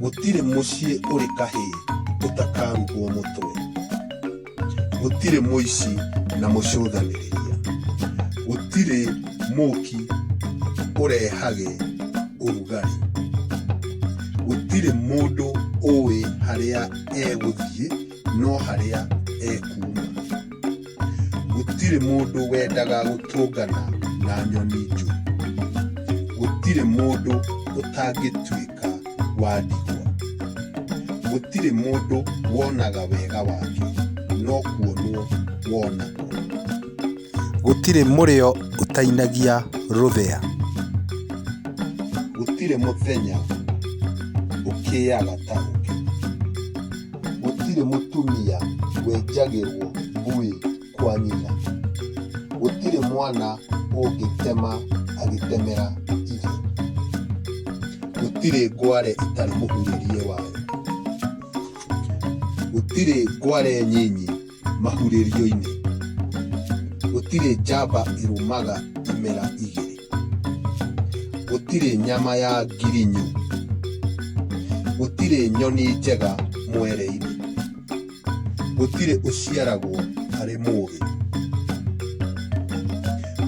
gũtirĩ mũciĩ ũrĩ kahĩĩ ũtakarugwo mũtwe gũtirĩ mũici na mũcũthanĩrĩria gũtirĩ mũki ũrehage ũrugarĩ gũtirĩ mũndũ ũĩ harĩa egũthiĩ no harĩa ekuuma. Gũtirĩ mũndũ wendaga gũtũngana na nyoni njũru. Gũtirĩ mũndũ ũtangĩtuĩka wa ndigwa. Gũtirĩ mũndũ wonaga wega wake, no kuonwo wonagwo. Gũtirĩ mũrĩo ũtainagia rũthĩa. Gũtirĩ mũthenya ũkĩaga ta ũngĩ. gũtirĩ mũtumia wenjagĩrwo ngũĩ kwa nyina, gũtirĩ mwana ũngĩtema agĩtemera ithe, gũtirĩ ngware ĩtarĩ mũhurĩrie wayo, gũtirĩ ngware nyinyi. mahurĩrio-inĩ, gũtirĩ njamba ĩrũmaga imera igĩrĩ, gũtirĩ nyama ya ngirinyu, gũtirĩ nyoni njega mwere-inĩ, gũtirĩ ũciaragwo arĩ mũũgĩ,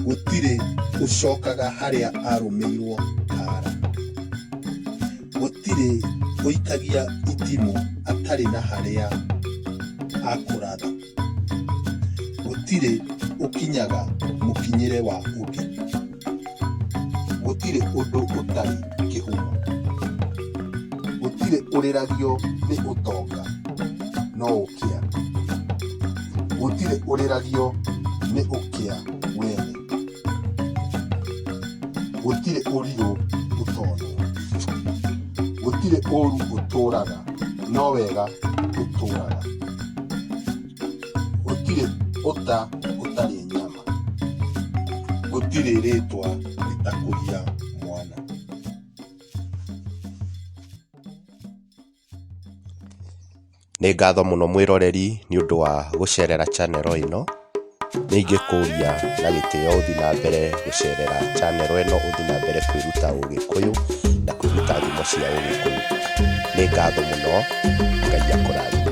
gũtirĩ ũcokaga harĩa arũmĩirwo kara. Gũtirĩ ũikagia itimũ atarĩ na harĩa akũratha, gũtirĩ ũkinyaga mũkinyĩre wa ũngĩ, gũtirĩ ũndũ ũtarĩ kĩhumo, gũtirĩ ũrĩragio nĩ ũtonga no ũkĩa, gũtirĩ ũrĩragio nĩ ũkĩa wene. gũtirĩ ũrirũ ũtonwo gũtirĩ ũru ũtũraga no wega ũtũraga gũtirĩ ũta ũtarĩ nyama gũtirĩ rĩtwa rĩtakũria mwana Nĩ ngatho mũno mwĩroreri nĩ ũndũ wa gũcerera channel ĩno. Nĩ ingĩkũria na gĩtĩo ũthiĩ na mbere gũcerera channel ĩno ũthiĩ na mbere kwĩruta Ũgĩkũyũ na kwĩruta thimo cia Ũgĩkũyũ. Nĩ ngatho mũno, Ngai akũrathime.